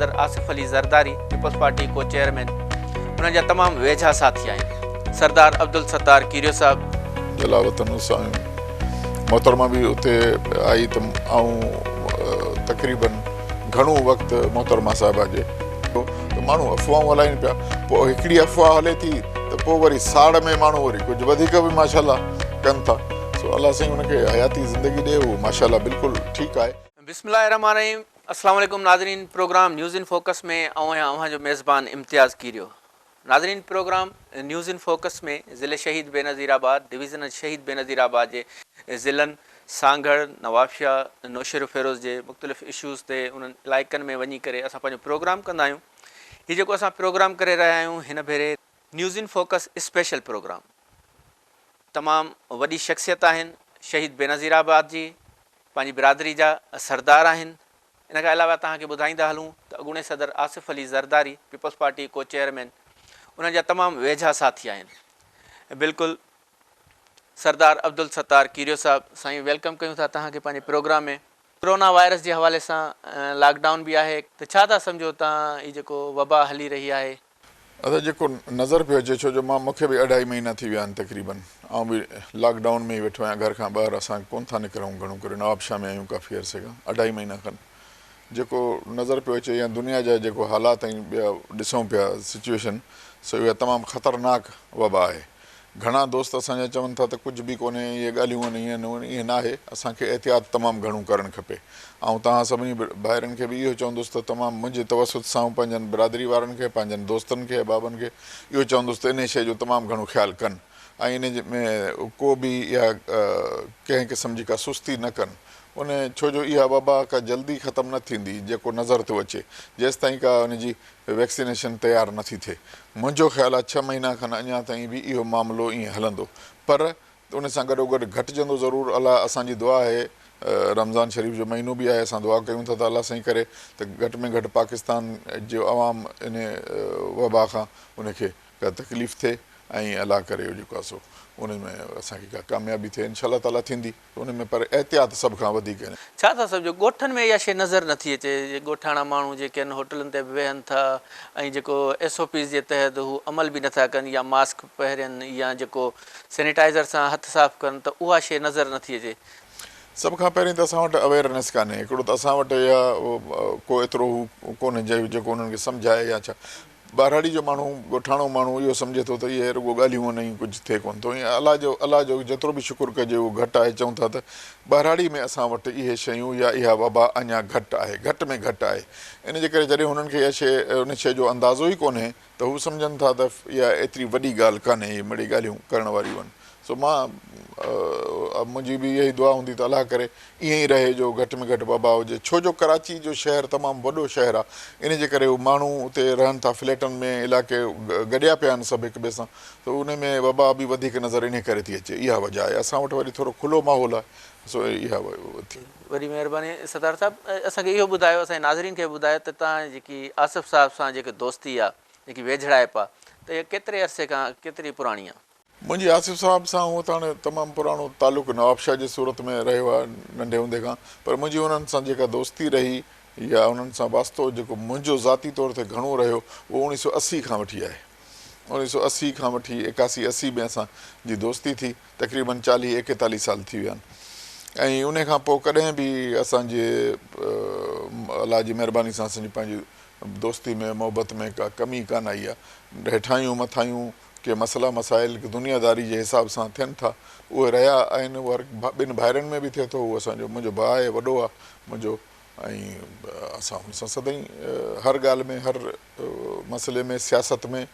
صدر آصف علي زرداري پيپلز پارٽي ڪو چيئرمين انهن جا تمام ويجها ساٿي آهن سردار عبدالستار ڪيريو صاحب. جلاوطن وسايون. محترمه به اتي آئي ته آئون تقريبن گهڻو وقت محترمه صاحبه جي ته ماڻهو افواهون هلائين پيا پوء هڪڙي افواهه هلي ٿي ته پوء وري ساڙ ۾ ماڻهو وري ڪجهه وڌيڪ به ماشاء الله ڪن ٿا سو الله سائين ان کي حياتي زندگي ڏي هو ماشاء الله بلڪل ٺيڪ آهي. بسم الله الرحمٰن الرحيم السلام عليڪم ناظرين پروگرام نيوز ان فوڪس ۾ آئون آهيان اوهان جو ميزبان امتياز ڪيريو ناظرين پروگرام نيوز ان فوڪس ۾ ضلعي شهيد بينظير آباد ڊويزنن شهيد بينظير آباد جي ضلعن سانگهڙ، نوابشاهه، نوشهروفيروز جي مختلف اشوز تي انهن علائقن ۾ وڃي ڪري اسان پنهنجو پروگرام ڪندا آهيون. هي جيڪو اسان پروگرام ڪري رهيا آهيون هن ڀيري. News in focus special programme تمام وڏي شخصيت آهن شهيد بينظير آباد جي پنهنجي برادري جا سردار آهن. ان کان علاوه توهان کي ٻڌائيندا هلون ته اڳوڻي صدر آصف علي زرداري پيپلز پارٽي ڪو چيئرمين انهن جا تمام ويجها ساٿي آهن بلڪل سردار عبدالستار ڪيريو صاحب. سائين ويلڪم ڪيون ٿا توهان کي پنهنجي پروگرام ۾. ڪرونا وائرس جي حوالي سان لاڪ ڊائون به آهي ته ڇا ٿا سمجهو توهان هي جيڪو وبا هلي رهي آهي ادا جيڪو نظر پيو اچي ڇو جو مان مونکي به اڍائي مهينا ٿي ويا آهن تقريبن آئون به لاڪ ڊائون ۾ ئي ويٺو آهيان گهر کان ٻاهر اسان ڪون ٿا نڪرون گهڻو ڪري نوابشاهه ۾ آهيون ڪافي عرصي کان اڍائي مهينا کن جيڪو نظر پيو اچي يا دنيا جا جيڪو حالات ۽ ٻيا ڏسون پيا سچوئيشن سو اها تمام خطرناڪ وبا آهي گهڻا دوست اسان جا چون ٿا ته ڪجهه به ڪونهي ۽ اهي ڳالهيون ان ائين هون ائين ناهي، اسان کي احتياط تمام گهڻو ڪرڻ کپي. آئون توهان سڀني ڀائرن کي به اهو چوندس ته تمام منهنجي توسط سان آئون پنهنجن برادري وارن کي، پنهنجن دوستن کي، احبابن کي اهو چوندس ته انهي شيء جو تمام گهڻو خيال ڪن ۽ ان ۾ ڪو به يا ڪنهن قسم جي ڪا سستي نه ڪن ان ڇو جو اها وبا ڪا جلدي ختم نه ٿيندي جيڪو نظر ٿو اچي جيستائين ڪا ان جي ويڪسينيشن تيار نه ٿي ٿئي. منهنجو خيال آهي ڇهه مهينا کن اڃا تائين به اهو معاملو ائين هلندو پر ان سان گڏوگڏ گهٽجندو ضرور الله اسان جي دعا آهي رمضان شريف جو مهينو به آهي اسان دعا ڪيون ٿا ته الله سائين ڪري ته گهٽ ۾ گهٽ پاڪستان جو عوام ان وبا کان ان کي ڪا تڪليف ٿئي ۽ الله ڪري جيڪو آهي سو ان ۾ اسان کي ڪا ڪاميابي ٿئي انشاء الله تعالي ٿيندي. ان ۾ پر احتياط سڀ کان وڌيڪ آهي. ڇا ٿا سمجهو ڳوٺن ۾ اها شيء نظر نٿي اچي جي ڳوٺاڻا ماڻهو جيڪي آهن هوٽلن تي به ويهن ٿا ۽ جيڪو ايس او پيز جي تحت هو عمل به نٿا ڪن يا ماسڪ پهرين يا جيڪو سينيٽائزر سان هٿ صاف ڪن ته اها شيء نظر نٿي اچي. سڀ کان پهرين ته اسان وٽ اويئرنيس ڪانهي هڪڙو ته اسان وٽ يا ڪو ايترو هو ڪونهي جيڪو انهن کي سمجهائي يا ڇا ٻهراڙي جو ماڻهو، ڳوٺاڻو ماڻهو اهو سمجهي ٿو ته اهي رڳو ڳالهيون آهن ۽ ڪجهه ٿئي ڪونه ٿو. ائين الله جو الله جو جيترو به شڪر ڪجي اهو گهٽ آهي. چئون ٿا ته ٻهراڙي ۾ اسان وٽ اهي شيون يا اها وبا اڃا گهٽ آهي. گهٽ ۾ گهٽ آهي. ان جي ڪري جڏهن هنن کي اها شيء ان شيء جو اندازو ئي ڪونهي ته هو سمجهن ٿا ته اها ايتري وڏي ڳالهه ڪانهي. اهي مڙئي ڳالهيون ڪرڻ واريون آهن. سو مان منهنجي به اهي ئي دعا هوندي ته الله ڪري ائين ئي رهي جو گهٽ ۾ گهٽ وبا هجي ڇو جو ڪراچي جو شهر تمام وڏو شهر آ انهي جي ڪري هو ماڻهو اتي رهن ٿا فليٽن ۾ علائقي گڏيا پيا آهن سڀ هڪ ٻئي سان ته انهي ۾ وبا به وڌيڪ نظر انهي ڪري ٿي اچي اها وجه آهي اسان وٽ وري ٿورو کلو ماحول آهي سو اها ٿي. وڏي مهرباني ستار صاحب اسان کي اهو ٻڌايو اسان جي ناظرين کي به ٻڌايو ته تان جي جيڪي آصف صاحب سان جيڪي دوستي آ جيڪي ويجهڙائپ آ ته اها ڪيتري عرصي کان ڪيتري پراڻي آ. منهنجي آصف صاحب سان هونء ته هاڻي تمام پراڻو تعلق نوابشاهه جي صورت ۾ رهيو آهي ننڍي هوندي کان پر منهنجي انهن سان جيڪا دوستي رهي يا انهن سان واسطو جيڪو منهنجو ذاتي طور تي گهڻو رهيو اهو اوڻي سو اسي کان وٺي آهي اوڻي سو اسي کان وٺي ايڪاسي اسي ۾ اسان جي دوستي ٿي تقريبن چاليهه ايڪيتاليهه سال ٿي ويا آهن ۽ انهي کان پوء ڪڏهن به اسان جي الله جي مهرباني سان اسان جي پنهنجي دوستي ۾ محبت ۾ ڪا ڪمي ڪانه آئي آهي هيٺاهيون مٿاهيون ڪي مسئلا مسائل دنيا داري جي حساب سان ٿين ٿا اهي رهيا آهن اهو هر ٻن ڀائرن ۾ به ٿئي ٿو هو اسان جو منهنجو ڀاء آهي وڏو آهي منهنجو ۽ اسان هن سان سدائين هر ڳالهه ۾ هر مسئلي ۾ سياست ۾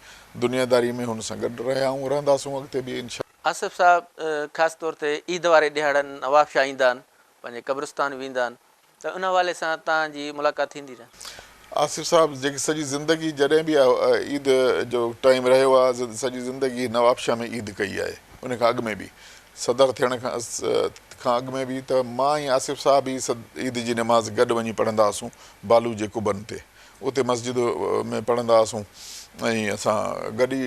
دنيا داري ۾ هن سان گڏ رهيا آهيون رهنداسون اڳتي به انشاء آصف صاحب خاص طور تي عيد واري ڏهاڙن نوابشاهه ايندا آهن پنهنجي قبرستان ويندا آهن ته ان حوالي سان توهان جي ملاقات ٿيندي رهندي. آصف صاحب جيڪي سڄي زندگي جڏهن به عيد جو ٽائيم رهيو آ سڄي زندگي نوابشاهه ۾ عيد ڪئي آهي ان کان اڳ ۾ به صدر ٿيڻ کان اڳ ۾ به ته مان ۽ آصف صاحب ئي عيد جي نماز گڏ وڃي پڙهندا هئاسون بالو جي قبن تي اتي مسجد ۾ پڙهندا هئاسون ۽ اسان گڏ ئي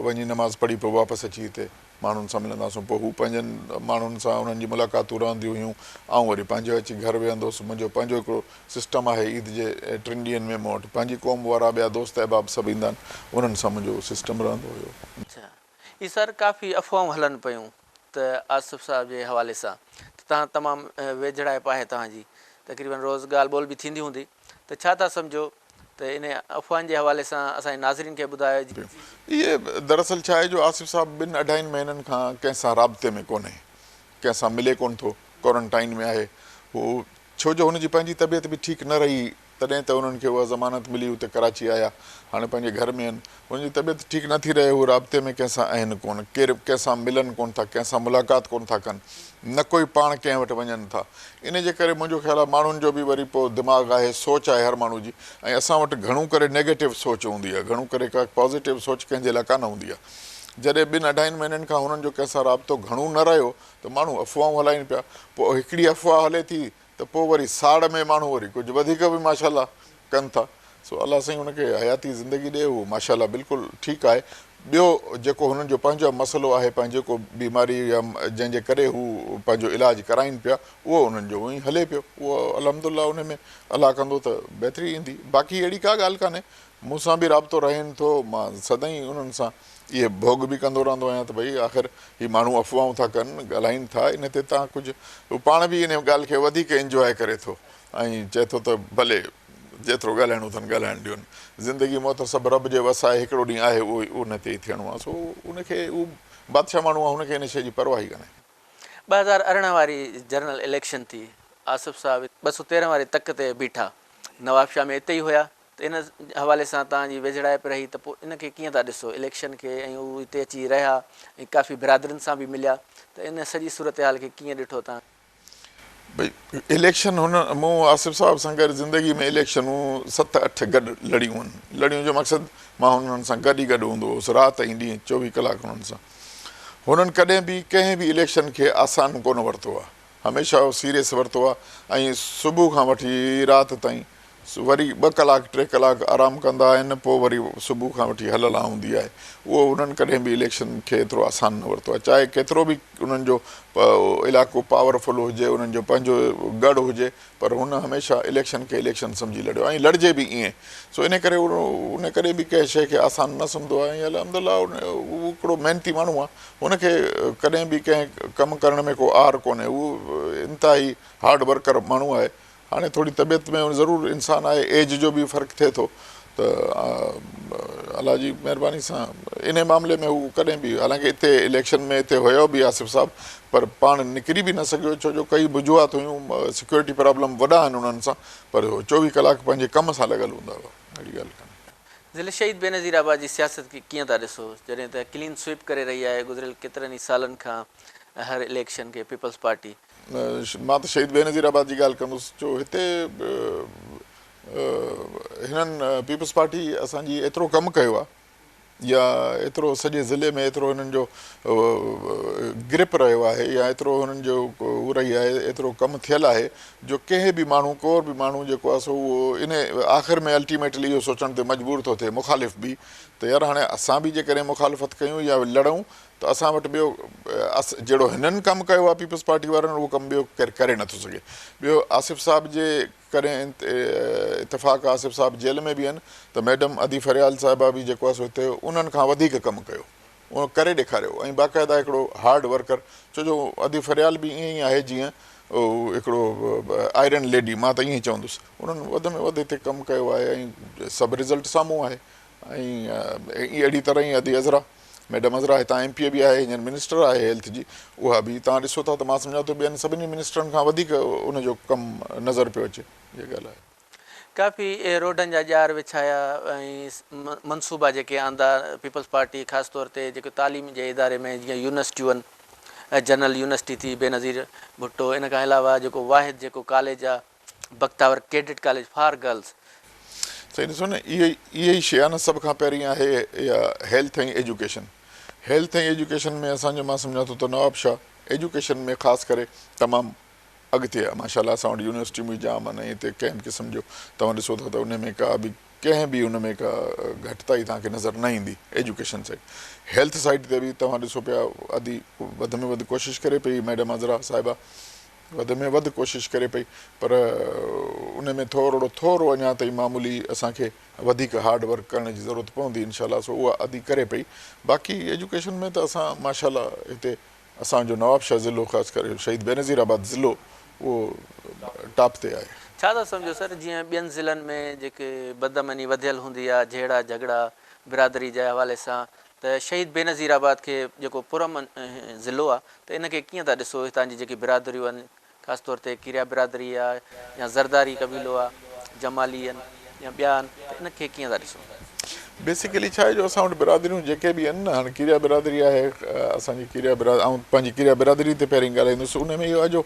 وڃي نماز پڙهي پوء واپس اچي هتي ماڻهن سان ملنداسون پوء هو پنهنجن ماڻهن سان انهن جي ملاقاتون رهنديون هيون آئون وري پنهنجو اچي گهر ويهندو هوس منهنجو پنهنجو هڪڙو سسٽم آهي عيد جي ٽن ڏينهن ۾ مون وٽ پنهنجي قوم وارا ٻيا دوست احباب سڀ ايندا آهن انهن سان منهنجو اهو سسٽم رهندو هيو. اچا هي سر ڪافي افواهون هلن پيون ته آصف صاحب جي حوالي سان ته تهان تمام ويجهڙائپ آهي توهان جي تقريبن روز ڳالهه ٻولهه به ٿيندي هوندي. ته ڇا ٿا سمجهو ته انهن افواهن جي حوالي سان اسان جي ناظرين کي ٻڌايو. اهي دراصل ڇا آهي جو آصف صاحب ٻن اڍائين مهينن کان ڪنهن سان رابطي ۾ ڪونهي ڪنهن سان ملي ڪونه ٿو ڪوارنٽائين ۾ آهي هو ڇو جو هن جي پنهنجي طبيعت به ٺيڪ نه رهي تڏهن ته انهن کي اها ضمانت ملي هو ته ڪراچي آيا هاڻي پنهنجي گهر ۾ آهن هن جي طبيعت ٺيڪ نه ٿي رهي، هو رابطي ۾ ڪنهن سان اهن ڪونه، ڪير به ڪنهن سان ملن ڪونه ٿا، ڪنهن سان ملاقات ڪونه ٿا ڪن، نه ڪوئي پاڻ ڪنهن وٽ وڃن ٿا. انهيء جي ڪري منهنجو خيال آهي ماڻهن جو به وري پوء دماغ آهي، سوچ آهي هر ماڻهو جي ۽ اسان وٽ گهڻو ڪري نيگيٽو سوچ هوندي آهي، گهڻو ڪري ڪا پازيٽو سوچ ڪنهن جي لاء ڪانه هوندي آهي. جڏهن ٻن اڍائين مهينن کان هنن جو ڪنهن سان رابطو گهڻو نه رهيو ته ماڻهو افواهون هلائين پيا، پوء هڪڙي افواهه هلي ٿي ته پوء وري ساڙ ۾ ماڻهو وري ڪجهه وڌيڪ به ماشاء الله ڪن ٿا سو الله سائين هن کي حياتي زندگي ڏئي اهو ماشاء الله بلڪل ٺيڪ آهي ٻيو جيڪو هنن جو پنهنجو مسئلو آهي پنهنجي ڪو بيماري يا جنهن جي ڪري هو پنهنجو علاج ڪرائين پيا اهو انهن جو ايئن هلي پيو اهو الحمدالله ان ۾ الله ڪندو ته بهتري ايندي باقي اهڙي ڪا ڳالهه ڪانهي مون سان به رابطو رهين ٿو مان سدائين انهن سان اهي ڀوڳ به ڪندو رهندو آهيان ته ڀئي آخر هي ماڻهو افواهون ٿا ڪن، ڳالهائين ٿا، ان تي تان ڪجهه هو پاڻ به ان ڳالهه کي وڌيڪ انجواء ڪري ٿو ۽ چئي ٿو ته ڀلي جيترو ڳالهائڻو اٿن ڳالهائڻ ڏيون. زندگي موت سڀ رب جي وس آهي، هڪڙو ڏينهن آهي اهو ان تي ئي ٿيڻو آهي سو ان کي هو بادشاهه ماڻهو آهي هن کي ان شيء جي پرواهه ئي ڪانهي. ٻه هزار ارڙهن واري جنرل اليڪشن ٿي، آصف صاحب ٻه سؤ تيرهن واري تڪ تي بيٺا، نوابشاهه ۾ اتي ئي هيا، ته ان حوالي سان توهان جي ويجهڙائپ رهي ته پوء ان کي ڪيئن ٿا ڏسو اليڪشن کي ۽ هو هتي اچي رهيا ۽ ڪافي برادرين سان به مليا ته ان سڄي صورتحال کي ڪيئن ڏٺو توهان؟ ڀئي اليڪشن هن مون آصف صاحب سان گڏ زندگي ۾ اليڪشنون ست اٺ گڏ لڙيون آهن لڙيون جو مقصد مان هنن سان گڏ ئي گڏ هوندو هوس رات ۽ ڏينهن چوويهه ڪلاڪ هنن سان هنن ڪڏهن به ڪنهن به اليڪشن کي آسان ڪونه ورتو آهي هميشه اهو سيريس ورتو آهي ۽ صبح کان وٺي رات تائين وري ٻه ڪلاڪ ٽي ڪلاڪ آرام ڪندا آهن پوء وري صبح کان وٺي هل هلان هوندي آهي اهو انهن ڪڏهن به اليڪشن کي ايترو آسان نه ورتو آهي چاهي ڪيترو به انهن جو علائقو پاور فل هجي انهن جو پنهنجو ڳڙهه هجي پر هن هميشه اليڪشن کي اليڪشن سمجهي لڙيو آهي ۽ لڙجي به ائين سو ان ڪري ان ڪڏهن به ڪنهن شيء کي آسان نه سمجهندو آهي ۽ الحمد الله هو هڪڙو محنتي ماڻهو آهي هن کي ڪڏهن به ڪنهن ڪم ڪرڻ ۾ ڪو عار ڪونهي هو انتهائي هارڊ ورڪر ماڻهو آهي هاڻي ٿوري طبيعت ۾ ضرور انسان آهي ايج جو به فرق ٿئي ٿو ته الله جي مهرباني سان انهي معاملي ۾ هو ڪڏهن به حالانڪه اتي اليڪشن ۾ اتي هيو به آصف صاحب پر پاڻ نڪري به نه سگهيو ڇو جو ڪئي وجوهات هيون سيڪيورٽي پرابلم وڏا آهن انهن سان پر هو چوويهه ڪلاڪ پنهنجي ڪم سان لڳل هوندا هئا اهڙي ڳالهه ڪانهي. ضلع شهيد بينظير آباد جي سياست کي ڪيئن ٿا ڏسو جڏهن ته ڪلين سوئپ ڪري رهي آهي گذريل ڪيترن ئي سالن کان هر اليڪشن کي پيپلز پارٽي مان ته شهيد بينظير آباد جي ڳالهه ڪندس جو هتي هنن پيپلز پارٽي اسان جي ايترو ڪم ڪيو آهي يا ايترو سڄي ضلعي ۾ ايترو هنن جو گرپ رهيو آهي يا ايترو هنن جو هو رهي آهي ايترو ڪم ٿيل آهي جو ڪنهن به ماڻهو ڪور به ماڻهو جيڪو آهي سو اهو ان آخر ۾ الٽيميٽلي اهو سوچڻ تي مجبور ٿو ٿئي مخالف به ته يار هاڻي اسان به جيڪڏهن مخالفت ڪيون يا لڙون ته اسان وٽ ٻيو اس جهڙو هنن ڪم ڪيو آهي پيپلز پارٽي وارن اهو ڪم ٻيو ڪير ڪري نٿو سگهي ٻيو آصف صاحب جي ڪري اتفاق آصف صاحب جيل ۾ به آهن ته ميڊم ادي فريال صاحبه به جيڪو آهي سو هتي انهن کان وڌيڪ ڪم ڪيو اهو ڪري ڏيکاريو ۽ باقاعده هڪڙو هارڊ ورڪر ڇو جو ادي فريال به ائين ئي آهي جيئن هڪڙو آئرن ليڊي مان ته ائين چوندس انهن وڌ ۾ وڌ هتي ڪم ڪيو آهي ۽ سڀ رزلٽ سامهون آهي ۽ اهڙي طرح ئي ادي عذرا ميڊم عذرا هتان ايم پي اي به آهي هينئر منسٽر آهي هيلٿ جي اها به توهان ڏسو ٿا ته مان سمجهان ٿو ٻين سڀني منسٽرن کان وڌيڪ ان جو ڪم نظر پيو اچي اها ڳالهه آهي. ڪافي روڊن جا ڄار وڇايا ۽ منصوبا جيڪي آندا پيپلز پارٽي خاص طور تي جيڪي تعليم جي اداري ۾ جيئن يونيورسٽيون جنرل يونيورسٽي ٿي بينظير ڀٽو ان کان علاوه جيڪو واحد جيڪو ڪاليج آهي Bakhtawar cadet college for girls. سائين ڏسو نه اهي اهي ئي شي آهي نه سڀ کان پهرين آهي اها هيلٿ ۽ ايجوڪيشن هيلٿ ۽ ايجوڪيشن ۾ اسان جو مان سمجهان ٿو ته نواب شاهه ايجوڪيشن ۾ خاص ڪري تمام اڳتي آهي ماشاء الله اسان وٽ يونيورسٽيون به جام آهن ۽ هتي ڪنهن به قسم جو توهان ڏسو ٿا ته انهي ۾ ڪا به ڪنهن به ان ۾ ڪا گهٽتائي توهان کي نظر نه ايندي ايجوڪيشن سائيڊ هيلٿ سائيڊ تي به توهان ڏسو پيا ادي وڌ ۾ وڌ ڪوشش ڪري پئي ميڊم عذرا صاحبه وڌ ۾ وڌ ڪوشش ڪري پئي پر ان ۾ ٿورڙو ٿورو اڃا تائين معمولي اسان کي وڌيڪ هارڊ ورڪ ڪرڻ جي ضرورت پوندي انشاء الله سو اها ادي ڪري پئي باقي ايجوڪيشن ۾ ته اسان ماشاء الله هتي اسان جو نوابشاهه ضلعو خاص ڪري شهيد بينظير آباد ضلعو اهو ٽاپ تي آهي. ڇا ٿا سمجهو سر جيئن ٻين ضلعن ۾ جيڪي بدامني وڌيل هوندي آهي جهيڙا جهڳڙا برادري جي حوالي سان ته شهيد بينظير آباد کي جيڪو پر امن ضلعو آ ته ان کي ڪيئن ٿا ڏسو هتان جي جيڪي برادريون آهن خاص طور تي ڪيريا برادري آ يا زرداري قبيلو آ جمالي آهن يا ٻيا آهن ته ان کي ڪيئن ٿا ڏسو. بيسيڪلي ڇا آهي جو اسان وٽ برادريون جيڪي به آهن نه هاڻي ڪيريا برادري آهي اسان جي ڪيريا برا آئون پنهنجي ڪيريا برادري تي پهرين ڳالهائيندس ان ۾ اهو آ جو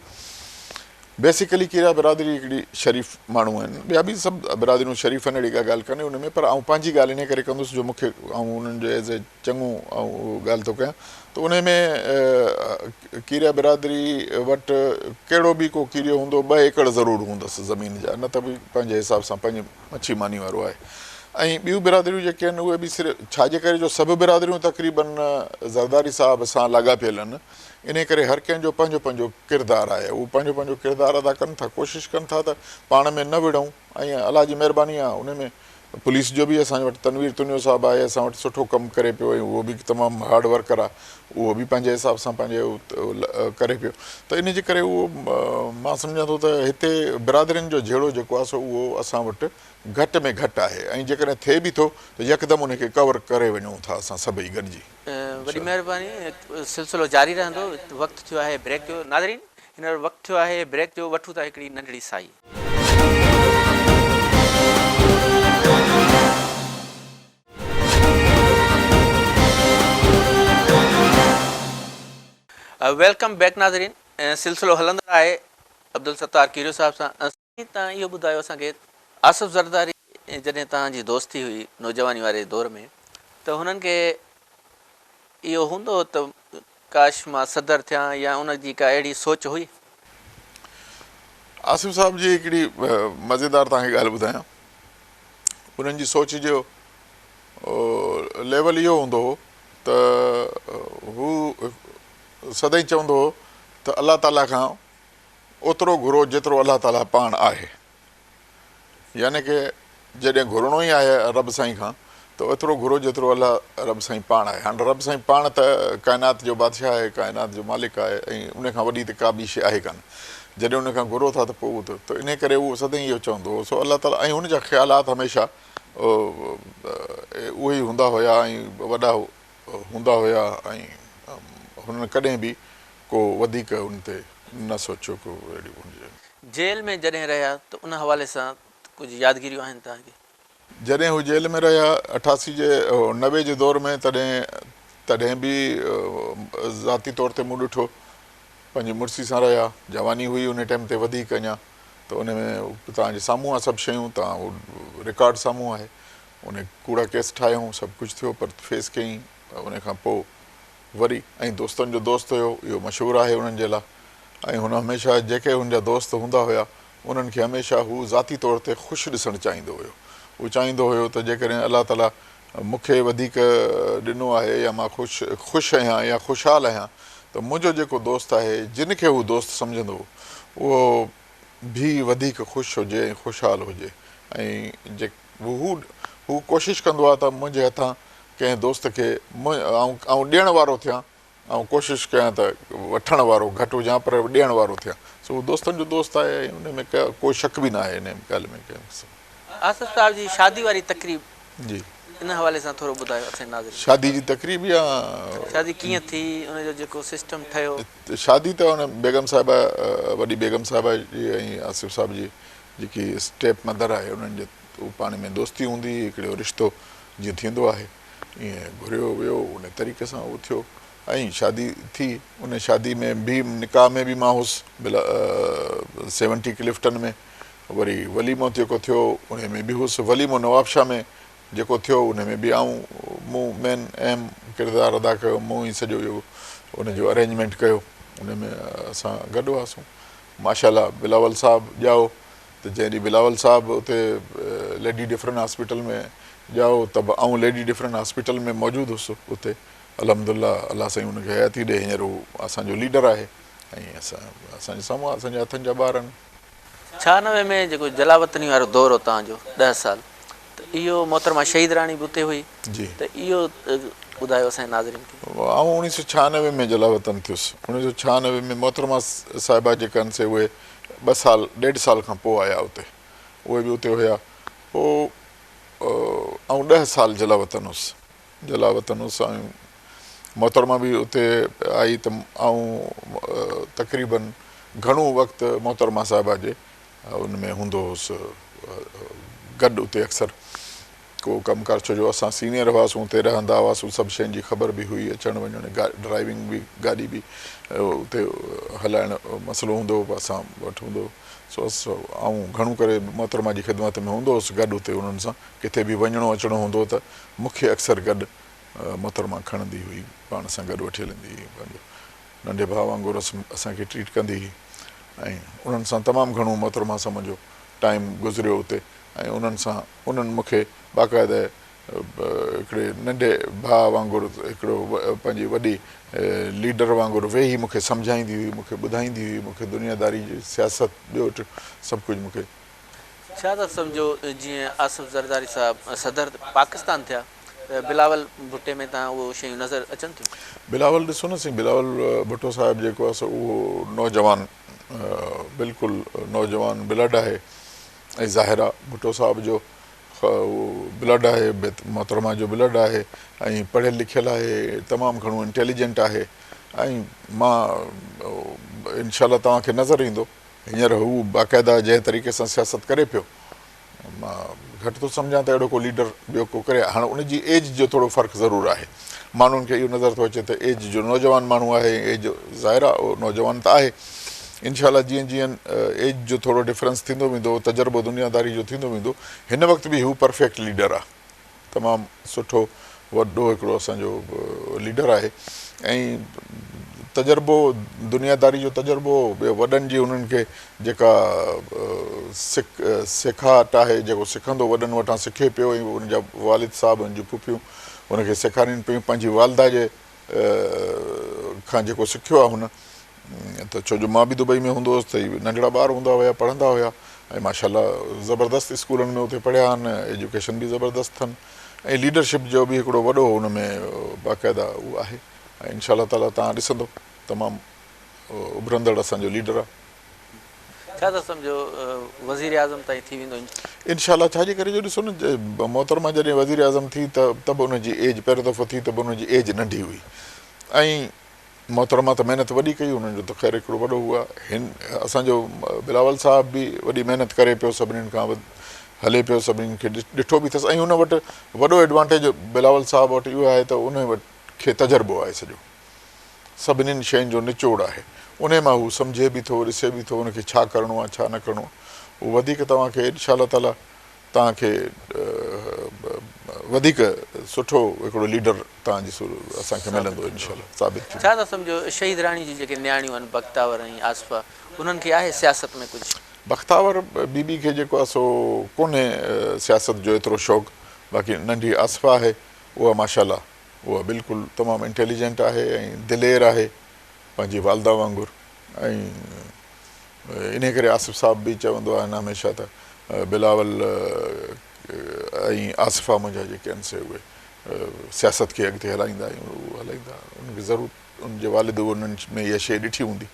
بيسيڪلي کيرا برادري هڪڙي شريف ماڻهو آهن ٻيا به سڀ برادريون شريف آهن اهڙي ڪا ڳالهه ڪانهي ان ۾ پر آئون پنهنجي ڳالهه انهي ڪري ڪندس جو مون کي آئون انهن جو ايز اي چڱو آئون اهو ڳالهه ٿو ڪيان ته انهي ۾ کيرا برادري وٽ ڪهڙو به ڪو کيريو هوندو ٻه ايڪڙ ضرور هوندس زمين جا نه ته به پنهنجي حساب سان پنهنجي مڇي ماني وارو آهي ۽ ٻيون برادريون جيڪي آهن اهي به صرف ڇاجي ڪري جو سڀ برادريون تقريبن زرداري صاحب سان لاڳاپيل آهن انهيء ڪري هر ڪنهن جو پنهنجو پنهنجو ڪردار آهي. هو پنهنجو پنهنجو ڪردار ادا ڪن ٿا، ڪوشش ڪن ٿا ته پاڻ ۾ نه وڙهون ۽ الله جي مهرباني آهي انهيء ۾ پوليس جو به اسان وٽ تنوير تنيو صاحب آهي اسان وٽ سٺو ڪم ڪري پيو ۽ اهو به تمام هارڊ ورڪر آهي اهو به پنهنجي حساب سان پنهنجي ڪري پيو ته انهيء جي ڪري اهو مان سمجهان ٿو ته هتي برادرين جو جهيڙو جيڪو آهي سو اهو اسان وٽ گهٽ ۾ گهٽ آهي ۽ جيڪڏهن ٿئي به ٿو ته يڪدم انهيء کي ڪور ڪري وڃون ٿا اسان سڀئي گڏجي. وڏي مهرباني سلسلو جاري رهندو وقت ٿيو آهي بريڪ جو ناظرين هينئر وقت ٿيو آهي بريڪ جو وٺون ٿا هڪڙي ننڍڙي سائي. ويلڪم بيڪ ناظرين سلسلو هلندڙ آهي عبدالستار کيريو صاحب سان. تان اهو ٻڌايو اسان کي آصف زرداري جڏهن تان جي دوستي هئي نوجواني واري دور ۾ ته هنن کي اهو هوندو هو ته ڪاش مان صدر ٿيان يا ان جي ڪا اهڙي سوچ هئي؟ آصف صاحب جي هڪڙي مزيدار تان کي ڳالهه ٻڌايان انهن جي سوچ جو ليول اهو هوندو هو ته هو سدائين چوندو هو ته الله تعاليٰ کان اوترو گهرو جيترو الله تعاليٰ پاڻ آهي. يعني ڪه جڏهن گهرڻو ئي آهي رب سائين کان ته اوترو گهرو جيترو الله رب سائين پاڻ آهي. هاڻ رب سائين پاڻ ته ڪائنات جو بادشاهه آهي، ڪائنات جو مالڪ آهي ۽ ان کان وڏي ته ڪا ٻي شيء آهي ڪانه. جڏهن ان کان گهرو ٿا ته پوء اوترو ته انهي ڪري اهو سدائين اهو چوندو هو سو الله تعاليٰ ۽ ان جا خيالات هميشه اهي ئي هوندا هيا ۽ وڏا هوندا هيا ۽ هنن ڪڏهن به ڪو وڌيڪ ان تي نه سوچيو ڪو اهڙي هجي. جيل ۾ جڏهن رهيا ته ان حوالي سان ڪجهه يادگيريون آهن توهان کي؟ جڏهن هو جيل ۾ رهيا اٺاسي جي نوي جي دور ۾ تڏهن تڏهن به ذاتي طور تي مون ڏٺو پنهنجي مڙسي سان رهيا جواني هئي ان ٽيم تي وڌيڪ اڃا ته ان ۾ توهان جي سامهون آ سڀ شيون توهان هو رڪارڊ سامهون آهي ان ڪوڙا ڪيس ٺاهيائون سڀ ڪجهه ٿيو پر فيس ڪيائين ان کان پوء وري ۽ دوستن جو دوست هيو اهو مشهور آهي انهن جي لا۽ هن هميشه جيڪي هن جا دوست هوندا هيا انهن کي هميشه هو ذاتي طور تي خوش ڏسڻ چاهيندو هيو هو چاهيندو هيو ته جيڪڏهن الله تعالي مون کي وڌيڪ ڏنو آهي يا مان خوش خوش اهيان يا خوشحال اهيان ته منهنجو جيڪو دوست آهي جن کي هو دوست سمجهندو هو اهو به وڌيڪ خوش هجي ۽ خوشحال هجي ۽ هو هو ڪوشش ڪندو آهي ته منهنجي هٿان ڪنهن دوست کي آئون ڏيڻ وارو ٿيان آئون ڪوشش ڪيان ته وٺڻ وارو گهٽ هجان پر ڏيڻ وارو ٿيان سو هو دوستن جو دوست آهي ۽ ان ۾ ڪو شڪ به ناهي ان ڳالهه ۾ ڪنهن قسم آصف صاحب جي شادي واري تقريب جي ان حوالي سان ٿورو ٻڌايو اسين ناظرين شادي جي تقريب يا شادي ڪيئن ٿي ان جو جيڪو سسٽم ٺهيو شادي ته ان بيگم صاحبه وڏي بيگم صاحبه جي ۽ آصف صاحب جي جيڪي اسٽيپ مدر آهي انهن جي هو پاڻي ۾ دوستي هوندي هئي هڪڙي هو رشتو جيئن ٿيندو آهي ايئن گهريو ويو انهي طريقي سان هو ٿيو ۽ شادي ٿي انهي شادي ۾ به نڪاح ۾ به مان هوس بلا سيونٽي ڪلفٽن ۾ وري وليمو جيڪو ٿيو انهي ۾ به هوس وليمو نوابشاه ۾ جيڪو ٿيو انهي ۾ به آئون مون مين اهم ڪردار ادا ڪيو مون ئي سڄو اهو انهي جو ارينجمينٽ ڪيو انهي ۾ اسان گڏ هئاسون ماشاءالله بلاول صاحب ڄائو ته جنهن ڏينهن بلاول صاحب اتي ليڊي ڊفرن هاسپيٽل ۾ ڄائو ته به آئون ليڊي ڊفرن هاسپيٽل ۾ موجود هوس اتي الحمدالله الله سائين ان کي حياتي ڏي هينئر هو اسان جو ليڊر آهي ۽ اسان اسان جي سامهون اسان جي هٿن جا ٻار آهن. ڇهانوي ۾ جيڪو جلاوطني وارو دور هو تان جو ڏهه سال ته اهو محترمه شهيد راڻي به اتي هئي ته اهو ٻڌايو اسان جي ناظرين کي. آئون اوڻيهه سؤ ڇهانوي ۾ جلاوطن ٿيس اوڻيهه سؤ ڇهانوي ۾ محترمه صاحبه جيڪا هن سي اهي ٻه سال ڏيڍ سال کان پوء آيا اتي اهي به اتي هيا پوء آئون ڏهه سال جلاوطن هوس جلاوطن هوس ۽ محترمه به اتي آئي ته آئون تقريبن گهڻو وقت محترمه صاحبه جي ان ۾ هوندو هوس گڏ اتي اڪثر ڪو ڪم ڪار ڇو جو اسان سينيئر هئاسون اتي رهندا هئاسون سڀ شين جي خبر به هئي اچڻ وڃڻ ڊرائيونگ به گاڏي به اتي هلائڻ مسئلو هوندو هو اسان وٽ هوندو سو آئون گهڻو ڪري محترمه جي خدمت ۾ هوندو هوس گڏ اتي انهن سان ڪٿي به وڃڻو اچڻو هوندو ته مونکي اڪثر گڏ محترمه کڻندي هئي پاڻ سان گڏ وٺي هلندي هئي پنهنجو ننڍي ڀاء وانگر اسان کي ٽريٽ ڪندي هئي ۽ انهن سان تمام گهڻو محترمه سمن جو ٽائيم گذريو اتي ۽ انهن سان انهن مون کي باقاعده هڪڙي ننڍي ڀاء وانگر هڪڙو پنهنجي وڏي ليڊر وانگر ويهي مون کي سمجهائيندي هئي مون کي ٻڌائيندي هئي مون کي دنيا داري جي سياست ٻيو ٽيو سڀ ڪجهه مون کي شهزاد سمجهو جيئن آصف زرداري صاحب صدر پاڪستان ٿيا. بلاول ڀٽي ۾ تان اهو شيون نظر اچن ٿيون. بلاول ڏسو نه سائين بلاول ڀٽو صاحب جيڪو آهي سو اهو نوجوان بلڪل نوجوان بلڊ آهي ۽ ظاهر آهي ڀٽو صاحب جو اهو بلڊ آهي محترمه جو بلڊ آهي ۽ پڙهيل لکيل آهي تمام گهڻو انٽيليجنٽ آهي ۽ مان انشاء الله توهان کي نظر ايندو هينئر هو باقاعده جنهن طريقي سان سياست ڪري پيو مان گهٽ ٿو سمجهان ته اهڙو ڪو ليڊر ٻيو ڪو ڪري هاڻ ان جي ايج جو ٿورو فرق ضرور آهي ماڻهن کي اهو نظر ٿو اچي ته ايج جو نوجوان ماڻهو آهي ۽ ايج ظاهر آهي اهو نوجوان ته آهي انشاء الله جيئن جيئن ايج جو ٿورو ڊفرنس ٿيندو ويندو تجربو دنيا داري جو ٿيندو ويندو هن وقت به هو پرفيڪٽ ليڊر آهي تمام سٺو وڏو هڪڙو اسان جو ليڊر آهي ۽ تجربو دنيا داري جو تجربو وڏن جي انهن کي جيڪا سيکاٽ آهي جيڪو سکندو وڏن وٽان سکي پيو ۽ ان جا والد صاحب ان جون ڦڦيون ان کي سيکارين پيون پنهنجي والده جي کان جيڪو سکيو آهي هن ته ڇو جو مان به دبئي ۾ هوندو هوس ته هي ننڍڙا ٻار هوندا هيا پڙهندا هيا ۽ ماشاءالله زبردست اسڪولن ۾ اتي پڙهيا آهن ايجوڪيشن به زبردست اٿن ۽ ليڊرشپ جو به هڪڙو وڏو ان ۾ باقاعده اهو آهي ۽ انشاء الله تعالي تهان ڏسندو تمام اڀرندڙ اسان جو ليڊر آهي ڇا ٿا سمجهو وزيراعظم تائين ٿي ويندو انشاء الله. انشاء الله ڇا جي ڪري جو ڏسو نه محترمه جڏهن وزيراعظم ٿي ته ته به ان جي ايج پهريون دفعو ٿي ته به ان جي ايج ننڍي هئي ۽ محترمه ته محنت وڏي ڪئي انهن جو ته خير هڪڙو وڏو هو هن اسان جو بلاول صاحب به وڏي محنت ڪري پيو سڀنين کان هلي پيو سڀنين کي ڏٺو به ٿس ۽ ان وٽ وڏو ايڊوانٽيج بلاول صاحب وٽ اهو آهي ته ان وٽ کي تجربو آهي سڄو سڀنين شين جو نچوڙ آهي. انهي مان هو سمجهي به ٿو، ڏسي به ٿو، ان کي ڇا ڪرڻو آهي، ڇا نه ڪرڻو اهو وڌيڪ توهان کي انشاء الله تعاليٰ توهان کي وڌيڪ سٺو هڪڙو ليڊر توهان جي اسان کي ملندو انشاء الله ثابت ٿيندو. ڇا ٿا سمجهو شهيد راڻي جون جيڪي نياڻيون آهن بختاور ۽ آصفه انهن کي آهي سياست ۾ ڪجهه؟ بختاور بي بي کي جيڪو آهي سو ڪونهي سياست جو ايترو شوق باقي ننڍي آصفه آهي اها ماشاء الله اها بلڪل تمام انٽيليجنٽ آهي ۽ دلير آهي پنهنجي والده وانگر ۽ انهي ڪري آصف صاحب به چوندو آهن هميشه ته بلاول ۽ آصفه منهنجا جيڪي آهن سي اهي سياست کي اڳتي هلائيندا ۽ اهو هلائيندا انهن کي ضرور انهن جي والد به انهن ۾ اها شيء ڏٺي هوندي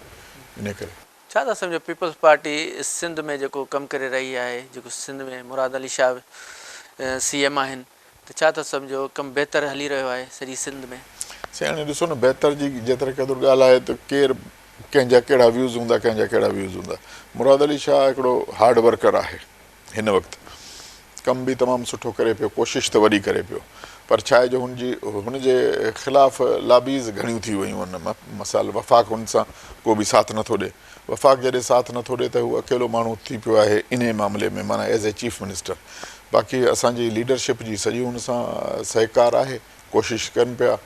انهي ڪري. ڇا ٿا سمجهو پيپلز پارٽي سنڌ ۾ جيڪو ڪم ڪري رهي آهي جيڪو سنڌ ۾ مراد علي شاهه سي ايم آهن. ته ڇا ٿا سمجهو ڪم بهتر هلي رهيو آهي سڄي سنڌ ۾؟ سياڻي ڏسو نه بهتر جي جيتري قدر ڳالهه آهي ته ڪير ڪنهن جا ڪهڙا ويوز هوندا ڪنهن جا ڪهڙا ويوز هوندا مراد علي شاهه هڪڙو هارڊ ورڪر آهي هن وقت ڪم به تمام سٺو ڪري پيو ڪوشش ته وڏي ڪري پيو پر ڇا آهي جو هن جي هن جي خلاف لابيز گهڻيون ٿي ويون ان مثال وفاق هن سان ڪو به ساٿ نٿو ڏي وفاق جڏهن ساٿ نٿو ڏئي ته هو اڪيلو ماڻهو ٿي پيو آهي انهي معاملي ۾ معنيٰ ايز اي چيف منسٽر باقي اسان جي ليڊرشپ جي سڄي هن سان سهڪار آهي ڪوشش ڪن پيا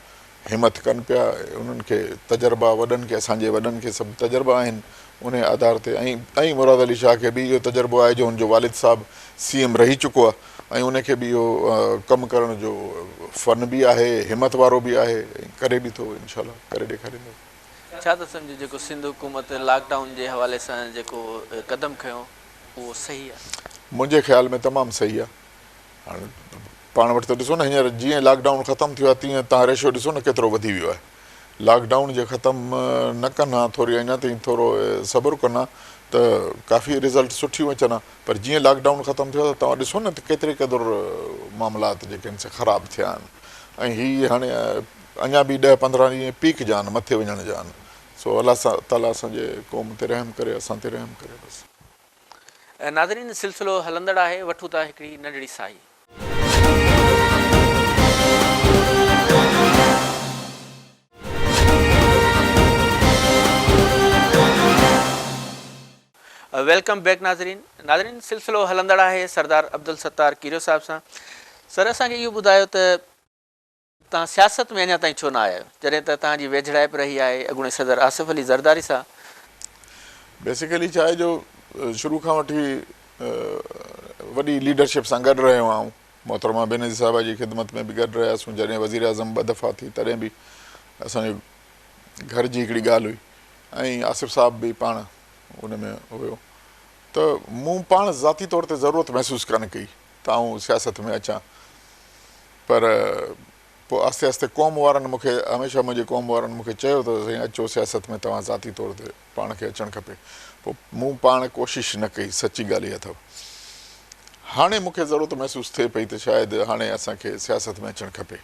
همٿ ڪن پيا انهن کي تجربا وڏن کي اسان جي وڏن کي سڀ تجربا آهن انهي آڌار تي ۽ مراد علي شاهه کي به اهو تجربو آهي جو هن جو والد صاحب سي ايم رهي چڪو آهي ۽ انهي کي به اهو ڪم ڪرڻ جو فن به آهي همٿ وارو به آهي ڪري به ٿو انشاء الله ڪري ڏيکاريندو. ڇا ته سمجهه جيڪو سنڌ حڪومت لاڪ ڊائون جي حوالي سان جيڪو قدم کنيو اهو صحيح آهي؟ منهنجي خيال ۾ تمام صحيح آهي هاڻ پاڻ وٽ ته ڏسو نه هينئر جيئن لاڪ ڊائون ختم ٿيو آهي تيئن تهان ريشو ڏسو نه ڪيترو وڌي ويو آهي لاڪ ڊائون جي ختم نه ڪن ها ٿوري اڃا تائين ٿورو صبر ڪن ها ته ڪافي رزلٽ سٺيون اچن ها پر جيئن لاڪ ڊائون ختم ٿيو آهي ته توهان ڏسو نه ته ڪيتري قدر معاملات جيڪي آهن سي خراب ٿيا آهن ۽ هي هاڻي اڃا به ڏهه پندرهن ڏينهن پيڪ جا آهن مٿي وڃڻ جا آهن سو الله تعالي اسان جي قوم تي رحم ڪري اسان تي رحم ڪري بس. ناظرين سلسلو هلندڙ آهي وٺون ٿا هڪڙي ننڍڙي ساهي. ويلڪم بيڪ ناظرين ناظرين سلسلو هلندڙ آهي سردار عبدالستار ڪيريو صاحب سان سر اسان کي اهو ٻڌايو ته. توهان سياست ۾ اڃا تائين ڇو نه آيا آهيو جڏهن ته توهان جي ويجهڙائپ رهي آهي اڳوڻي صدر آصف علي زرداري سان. بيسيڪلي ڇا آهي جو شروع کان وٺي وڏي ليڊرشپ سان گڏ رهيو آهيان محترمه بينظير صاحبه جي خدمت ۾ به گڏ رهياسون جڏهن وزيراعظم ٻه دفعا ٿي تڏهن به اسان جي گهر جي هڪڙي ڳالهه هئي ۽ آصف صاحب به پاڻ ان ۾ هيو ته مون پاڻ ذاتي طور تي ضرورت محسوس ڪانه ڪئي ته آئون سياست ۾ اچان پر پوء آهستي آهستي قوم وارن مون کي هميشه منهنجي قوم وارن مون کي چيو ته سائين اچو سياست ۾ توهان ذاتي طور تي پاڻ کي اچڻ کپي پوء مون پاڻ ڪوشش نه ڪئي سچي ڳالهه اها اٿو هاڻي مون کي ضرورت محسوس ٿئي پئي ته شايد هاڻي اسان کي سياست ۾ اچڻ کپي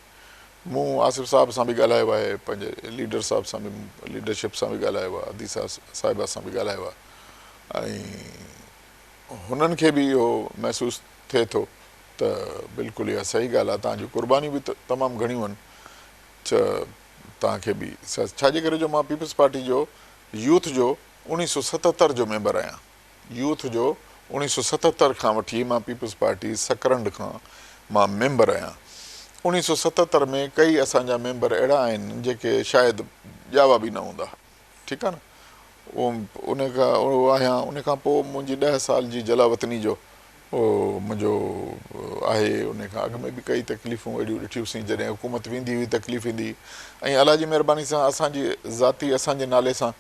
مون آصف صاحب سان به ڳالهايو آهي پنهنجي ليڊر صاحب سان به ليڊرشپ سان به ڳالهايو آهي ادي صاحبه سان به ڳالهايو آهي ۽ هنن کي به اهو محسوس ٿئي ٿو ته بلڪل اها صحيح ڳالهه آهي، توهان جون قربانيون به تمام گهڻيون آهن ڇا توهان کي به سياست ڇا جي ڪري جو مان پيپلز پارٽي جو يوٿ جو اوڻيهه سؤ ستهتر جو ميمبر آهيان يوٿ جو اوڻيهه سؤ ستهتر کان وٺي مان پيپلز پارٽي سڪرنڊ کان مان ميمبر آهيان اوڻيهه سؤ ستهتر ۾ ڪئي اسان جا ميمبر اهڙا آهن جيڪي شايد ڄاوا به نه هوندا. ٺيڪ آهي نه ان آهيان ان کان پوء منهنجي ڏهه سال جي جلا وطني جو منهنجو آهي ان کان اڳ ۾ به ڪئي تڪليفون اهڙيون ڏٺيون سين جڏهن حڪومت ويندي هئي تڪليف ايندي هئي ۽ الله جي مهرباني سان اسان جي ذاتي اسان جي نالي سان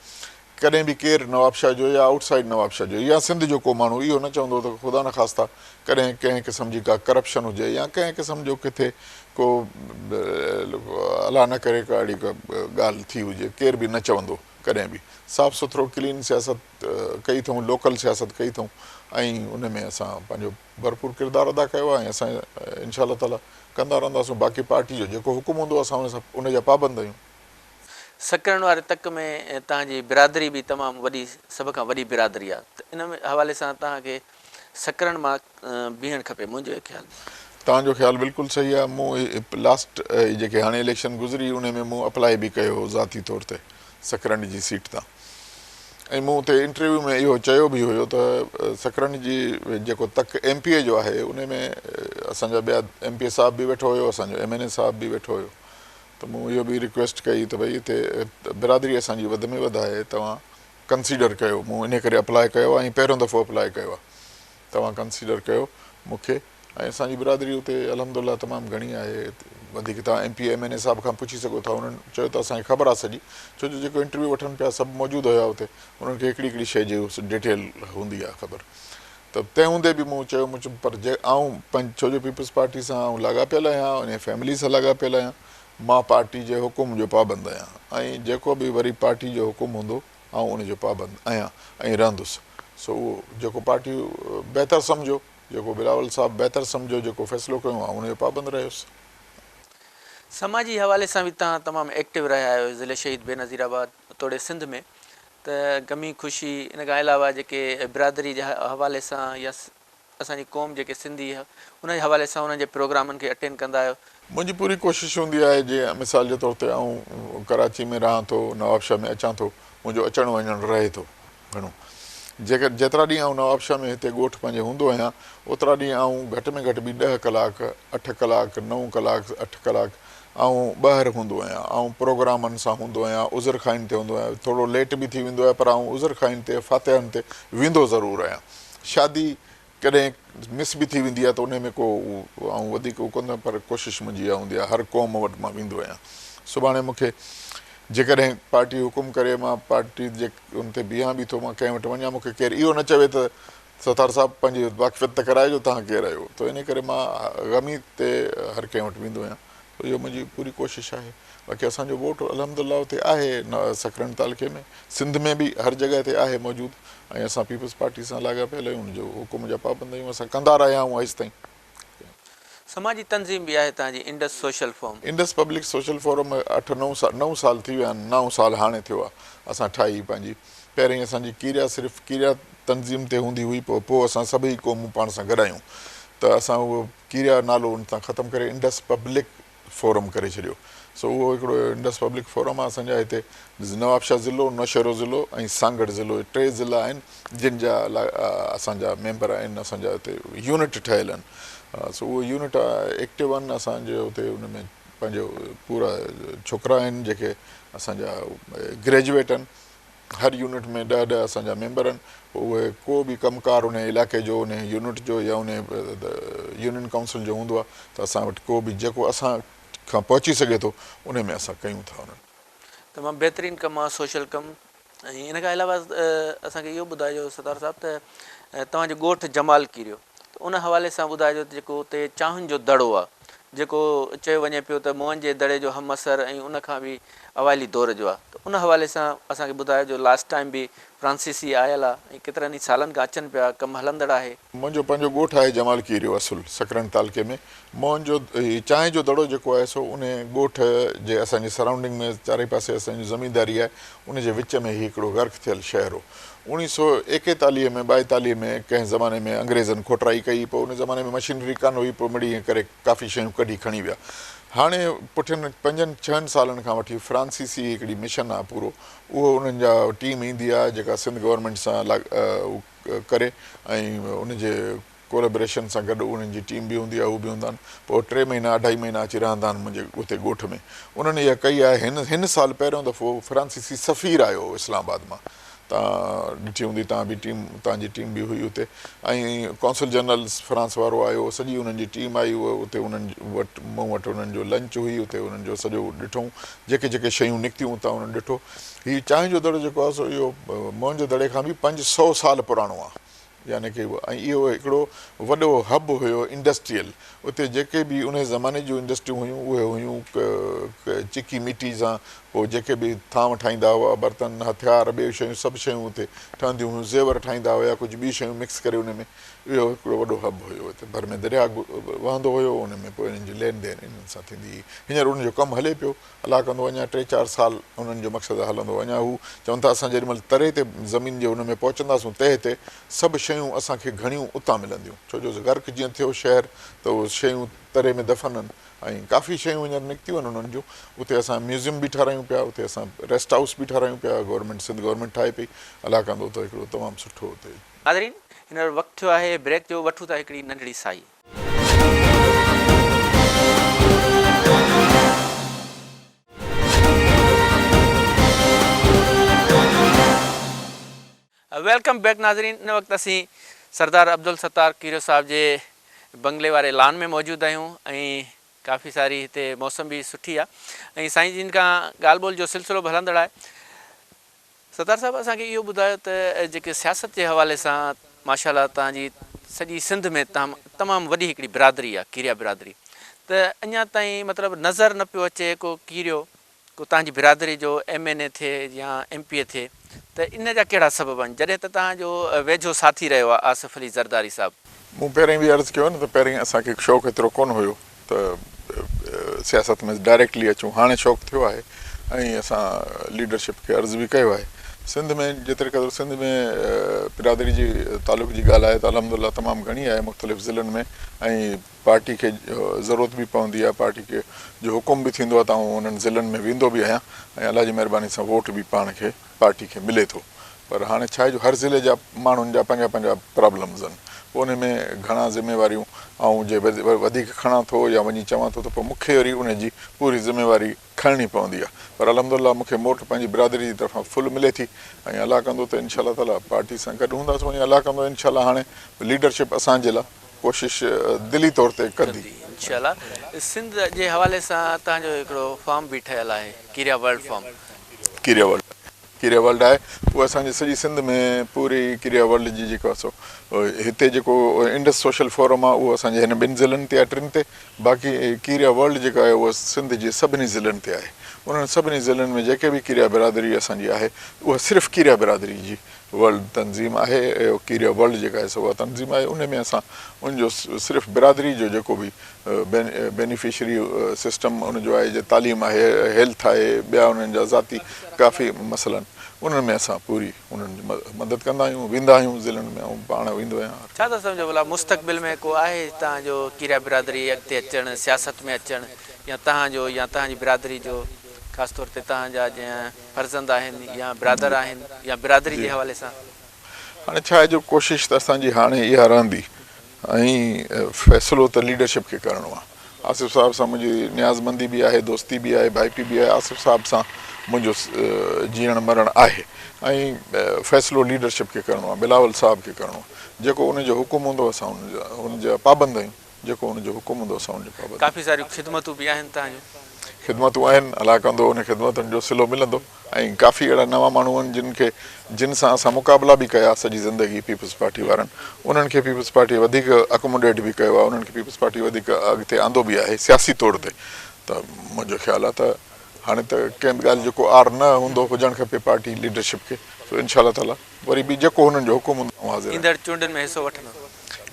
ڪڏهن به ڪير نوابشاهه جو يا آئوٽ سائيڊ نوابشاهه جو يا سنڌ جو ڪو ماڻهو اهو نه چوندو ته خدا نخواسته ڪڏهن ڪنهن قسم جي ڪا ڪرپشن هجي يا ڪنهن قسم جو ڪٿي ڪو الا نه ڪري ڪا اھڙي ڳالھ ٿي ھجي ڪير به نه چوندو ڪڏھن به صاف سٿرو ڪلين سياست ڪئي اٿئون لوڪل سياست ڪئي اٿئون ۽ ان ۾ اسان پنھنجو ڀرپور ڪردار ادا ڪيو آھي ۽ اسان انشاء الله تعالي ڪندا رھنداسون باقي پارٽي جو جيڪو حڪم ھوندو اسان ان جا پابند آھيون. سڪرنڊ واري تڪ ۾ تنھنجي برادري به تمام وڏي سڀ کان وڏي برادري آھي ته ان حوالي سان تنھن کي سڪرڻ مان بيهڻ کپي منهنجو اهي خيال. توهان جو خيال بلڪل صحيح آهي مون اهي لاسٽ اهي جيڪي هاڻي اليڪشن گذري انهي ۾ مون اپلائي به ڪيو هو ذاتي طور تي سڪرنڊ جي سيٽ تان ۽ مون اتي انٽرويو ۾ اهو چيو به هيو ته سڪرنڊ جي جيڪو تڪ ايم پي اي جو آهي انهي ۾ اسان جا ٻيا ايم پي اي صاحب به ويٺو هيو اسان جو ايم اين اي صاحب به ويٺو هيو ته مون اهو به رڪويسٽ ڪئي ته ڀئي هتي برادري اسان جي وڌ ۾ وڌ آهي توهان ڪنسيڊر ڪيو مون انهي ڪري اپلاء ڪيو آهي ۽ پهريون دفعو اپلاء ڪيو آهي توهان ڪنسيڊر ڪيو مون کي ۽ اسان جي برادري اتي الحمدالله تمام گهڻي آهي وڌيڪ توهان M P M N A صاحب کان پڇي سگهو ٿا انهن چيو ته اسان کي خبر آهي سڄي ڇو جو جيڪو انٽرويو وٺن پيا سڀ موجود هيا اتي انهن کي هڪڙي هڪڙي شيء جي ڊيٽيل هوندي آهي خبر ته تنهن هوندي به مون چيو مون چيم پر جي آئون ڇو جو پيپلز پارٽي سان آئون لاڳاپيل آهيان انهي فيملي سان لاڳاپيل آهيان مان پارٽي جي حڪم جو پابند آهيان ۽ جيڪو به وري پارٽي جو حڪم هوندو آئون ان جو پابند آهيان ۽ رهندس سو اهو جيڪو پارٽي بهتر سمجهيو جيڪو بلاول صاحب بهتر سمجهيو جيڪو فيصلو ڪيو آئون ان جو پابند رهيس. سماجي حوالي سان به تهان تمام ايڪٽو رهيا آهيو ضلعي شهيد بينظير آباد توڙي سنڌ ۾ ته غمي خوشي ان کان علاوه جيڪي برادري جي حوالي سان يا اسان جي قوم جيڪي سنڌي ها ان جي حوالي سان انهن جي پروگرامن کي اٽينڊ ڪندا آهيو. منهنجي پوري ڪوشش هوندي آهي جي مثال جي طور تي آئون ڪراچي ۾ رهان ٿو نوابشاهه ۾ اچان ٿو منهنجو اچڻ وڃڻ رهي ٿو گهڻو جيڪر جيترا ڏينهن آئون نوابشاهه ۾ هتي ڳوٺ پنهنجي هوندو آهيان اوترا ڏينهن آئون گهٽ ۾ گهٽ به ڏهه ڪلاڪ اٺ ڪلاڪ نو ڪلاڪ اٺ ڪلاڪ آئون ٻاهر هوندو آهيان آئون پروگرامن سان هوندو آهيان عذر خائين تي هوندو آهيان ٿورو ليٽ به ٿي ويندو آهي پر آئون عذر خائين تي فاتحن تي ويندو ضرور آهيان شادي ڪڏهن مس به ٿي ويندي آهي ته انهي ۾ ڪو آئون وڌيڪ اهو ڪندو آهيان پر ڪوشش منهنجي اها هوندي آهي هر قوم وٽ مان ويندو آهيان سڀاڻي مون کي جيڪڏهن پارٽي حڪم ڪري مان پارٽي جي ان تي بيهان به ٿو مان ڪنهن وٽ وڃان مون کي ڪير اهو نه چوي ته ستار صاحب پنهنجي واقفيت ته ڪرائي جو توهان ڪير آهيو ته انهي ڪري مان غمي تي هر ڪنهن وٽ ويندو آهيان. ته اهو منهنجي پوري ڪوشش آهي باقي اسان جو ووٽ الحمدالله اتي آهي سکرن تعلقي ۾ سنڌ ۾ به هر جڳهه تي آهي موجود ۽ اسان پيپلز پارٽي سان لاڳاپيل آهيون ان جو حڪم جا پابند آهيون اسان ڪندا رهيا آهيون اڄ تائين. سماجي تنظيم به آهي تنهنجي Indus social forum. Indus public social forum اٺ نو سال نو سال ٿي ويا آهن نائون سال هاڻي ٿيو آهي اسان ٺاهي پنهنجي پهرين اسان جي ڪيريا صرف ڪيريا تنظيم تي هوندي هئي پوء پوء اسان سڀئي قومون پاڻ سان گڏايون ته اسان اهو ڪيريا نالو ان تان ختم ڪري انڊس پبلڪ فورم ڪري ڇڏيو سو اهو هڪڙو انڊس پبلڪ فورم آهي اسان جا هتي نوابشاهه ضلعو نوشهرو ضلعو ۽ سانگهڙ ضلعو ٽي ضلعا آهن جن جا اسان جا ميمبر آهن اسان جا هتي يونٽ ٺهيل آهن سو اهو يونٽ ايڪٽو آهن اسان جي هتي ان ۾ پنهنجو پورا ڇوڪرا آهن جيڪي اسان جا گريجويٽ آهن هر يونٽ ۾ ڏهه ڏهه اسان جا ميمبر آهن پوء اهي ڪو به ڪم ڪار انهي علائقي جو انهي يونٽ جو يا انهي يونين ڪائونسل جو هوندو آهي ته اسان وٽ ڪو به جيڪو اسان کان پهچي سگهي ٿو انهي ۾ اسان ڪيون ٿا انهن تمام بهترين ڪم آ سوشل ڪم ۽ ان کان علاوه اسان کي اهو ٻڌائجو ستار صاحب ته توهان جو ڳوٺ جمال ڪيريو ته ان حوالي سان ٻڌائجو ته جيڪو اتي چانهن جو دڙو آ جيڪو چيو وڃي پيو ته موئن جي دڙي جو همعصر ۽ ان کان به اوائلي دور جو آ ته ان حوالي سان اسان کي ٻڌايو جو لاسٽ ٽائيم به فرانسيسي آيل آ ۽ ڪيترن ئي سالن کان اچن پيا ڪم هلندڙ آهي. منهنجو پنهنجو ڳوٺ آهي جمال کيريو اصل سڪرنڊ تعلقي ۾ موئن جو هي چانهه جو دڙو جيڪو آهي سو انهي ڳوٺ جي اسان جي سرائونڊنگ ۾ چارئي پاسي اسان جي زمينداري آهي ان جي وچ ۾ هي هڪڙو غرق ٿيل شهر هو اوڻيهه سؤ ايڪيتاليهه ۾ ٻائيتاليهه ۾ ڪنهن زماني ۾ انگريزن کوٽرائي ڪئي پوء ان زماني ۾ مشينري ڪانه هئي پوء مڙيئي ڪري ڪافي شيون ڪڍي کڻي ويا هاڻي پٺين پنجن ڇهن سالن کان وٺي فرانسيسي هڪڙي مشن آ پورو اهو انهن جا ٽيم ايندي آ جيڪا سنڌ گورنمينٽ سان ڪري ۽ ان جي ڪولابريشن سان گڏ انهن جي ٽيم به هوندي آهي، هو به هوندا آهن. پوء ٽي مهينا، اڍائي مهينا اچي رهندا آهن منهنجي اتي ڳوٺ ۾. انهن اها ڪئي آهي. هن هن سال پهريون دفعو فرانسيسي سفير آيو هو اسلام آباد مان. تان ڏٺي هوندي تان به ٽيم تان جي ٽيم به هئي اتي ۽ قونصل جنرل فرانس وارو آيو هو. سڄي انهن جي ٽيم آئي هئي اتي انهن وٽ مون وٽ انهن جو لنچ هئي اتي انهن جو سڄو ڏٺئون جيڪي جيڪي شيون نڪتيون اتان انهن ڏٺو. هي چانهه جو دڙو جيڪو آهي سو اهو موهن جو دڙي کان به پنج سؤ سال پراڻو آهي. يعني ڪئي هئا ۽ اهو هڪڙو وڏو هب هيو انڊسٽريل اتي جيڪي به انهي زماني جون انڊسٽريون هيون اهي هيون چڪي مٽي سان پوء جيڪي به ٿانو ٺاهيندا هئا برتن هٿيار ٻيو شيون سڀ شيون اتي ٺهنديون هيون زيور ٺاهيندا هيا ڪجهه ٻيون شيون مڪس ڪري انهي ۾ اهو هڪڙو وڏو هب هيو اتي ڀر ۾ درياء وهندو هيو انهي ۾ پوء انهن جي لين دين انهن سان ٿيندي هئي هينئر انهن جو ڪم هلي پيو الله ڪندو اڃا ٽي چار سال انهن جو مقصد هلندو اڃا هو چون ٿا اسان جيڏي مهل تري تي زمين جي ان ۾ پهچنداسون تهه تي سڀ شيون اسان کي گهڻيون اتان ملنديون ڇو جو غرق جيئن ٿيو شهر ته اهو شيون تري ۾ دفن ان ۽ ڪافي شيون هينئر نڪتيون ان انهن جون اتي اسان ميوزيم به ٺاراهيون پيا اتي اسان ريسٽ هائوس به ٺاراهيون پيا گورنمينٽ سنڌ گورنمينٽ ٺاهي پئي الله ڪندو ته هڪڙو تمام سٺو اتي ناظرين هينئر وقت ٿيو آهي بريڪ جو وٺون ٿا هڪڙي ننڍڙي سائي. ويلڪم بيڪ ناظرين ان وقت اسين سردار عبدالستار کيرو صاحب جي بنگلي واري لان ۾ موجود آهيون ۽ ڪافي ساري هتي موسم به سٺي آهي ۽ سائين جن کان ڳالهه ٻولهه جو سلسلو به هلندڙ آهي ستار صاحب اسان کي اهو ٻڌايو ته جيڪي سياست جي حوالي سان ماشاء الله توهان جي سڄي سنڌ ۾ تام تمام وڏي هڪڙي برادري آهي ڪيريا برادري ته اڃان تائين مطلب نظر نه پيو اچي ڪو ڪيريو ڪو توهان جي برادري جو ايم اين اي ٿئي يا ايم پي اي ٿئي ته ان جا ڪهڙا سبب آهن جڏهن ته توهان جو ويجهو ساٿي رهيو آهي آصف علي زرداري صاحب. مون پهرين به عرض ڪيو نه ته پهرين اسان کي شوق ايترو ڪونه هيو ته سياست ۾ ڊائريڪٽلي اچون هاڻي شوق ٿيو آهي ۽ اسان ليڊرشپ کي عرض به ڪيو آهي سنڌ ۾ جيتري قدر سنڌ ۾ برادري جي تعلق جي ڳالهه آهي ته الحمد الله تمام گهڻي آهي مختلف ضلعن ۾ ۽ پارٽي کي ضرورت به پوندي آهي پارٽي کي جو حڪم به ٿيندو آهي ته آئون انهن ضلعن ۾ ويندو به آهيان ۽ الله جي مهرباني سان ووٽ به پاڻ کي پارٽي کي ملي ٿو پر هاڻي ڇا آهي جو هر ضلعي جا ماڻهن جا پنهنجا پنهنجا پرابلمز ان پوء انهي ۾ گهڻا ذميواريون آئون جي وڌيڪ کڻان ٿو يا وڃي چوان ٿو ته پوء مونکي وري انهي جي پوري ذميواري کڻڻي پوندي آهي پر الحمد الله مونکي موٽ پنهنجي برادري جي طرفان فل ملي ٿي ۽ الله ڪندو ته انشاء الله تعالي پارٽي سان گڏ هونداسون ۽ الله ڪندو انشاء الله هاڻي ليڊرشپ اسان جي لا ڪوشش دلي طور تي ڪندي. ڪندي انشاء الله سنڌ جي حوالي سان تهان جو هڪڙو فارم به ٺهيل آهي Kerio world farm. Kerio world Kerio world آهي اهو اسان جي سڄي سنڌ ۾ پوري ڪيريا ورلڊ جي جيڪو سو هتي جيڪو انڊس سوشل فورم آهي اهو اسان جي هن ٻن ضلعن تي آهي ٽن تي باقي ڪيريا ورلڊ جيڪا آهي اهو سنڌ جي سڀني ضلعن تي آهي انهن سڀني ضلعن ۾ جيڪي به ڪيريا برادري اسان جي آهي اها صرف ڪيريا برادري جي ورلڊ تنظيم آهي اهو ڪيريا ورلڊ جيڪا آهي سو اها تنظيم آهي ان ۾ اسان ان جو صرف برادري جو جيڪو به بينيفشري سسٽم ان جو آهي جي تعليم آهي هيلٿ آهي ٻيا انهن جا ذاتي ڪافي مسئلن انهن ۾ اسان پوري انهن جي مدد ڪندا آهيون ويندا آهيون ضلعن ۾ آئون پاڻ ويندو آهيان هر ڇا ٿا سمجهو ڀلا مستقبل ۾ ڪو آهي هتان جو ڪيريا برادري اڳتي اچڻ سياست ۾ اچڻ يا تهان جو يا تهان جي برادري جو خاص طور تي تهان جا جيئن فرزند آهن يا برادر آهن يا برادري جي حوالي سان. هاڻي ڇا آهي جو ڪوشش ته اسان جي هاڻي اها رهندي ۽ فيصلو ته ليڊرشپ کي ڪرڻو آهي. آصف صاحب سان منهنجي نيازمندي به آهي، دوستي به آهي، ڀائپي به آهي، آصف صاحب سان منهنجو جيئڻ مرڻ آهي ۽ فيصلو ليڊرشپ کي ڪرڻو آهي، بلاول صاحب کي ڪرڻو آهي، جيڪو ان جو حڪم هوندو اسان ان جا پابند آهيون. جيڪو ان جو حڪم هوندو اسان ان جي پابند. ڪافي ساريون خدمتون به آهن تنهن جون. خدمتون آهن الاء ڪندو انهن خدمتن جو صلو ملندو. ۽ ڪافي اهڙا نوان ماڻهو آهن جن کي جن سان اسان مقابلا به ڪيا سڄي زندگي پيپلز پارٽي وارن انهن کي پيپلز پارٽي وڌيڪ اڪموڊيٽ به ڪيو آهي انهن کي پيپلز پارٽي وڌيڪ اڳتي آندو به آهي سياسي طور تي ته منهنجو خيال آهي ته هاڻي ته ڪنهن به ڳالهه جو ڪو عار نه هوندو هجڻ کپي پارٽي ليڊرشپ کي سو انشاء الله تعاليٰ وري به جيڪو هنن جو حڪم هوندو آئون حاضر آهيان. ايندڙ چونڊن ۾ حصو وٺندو.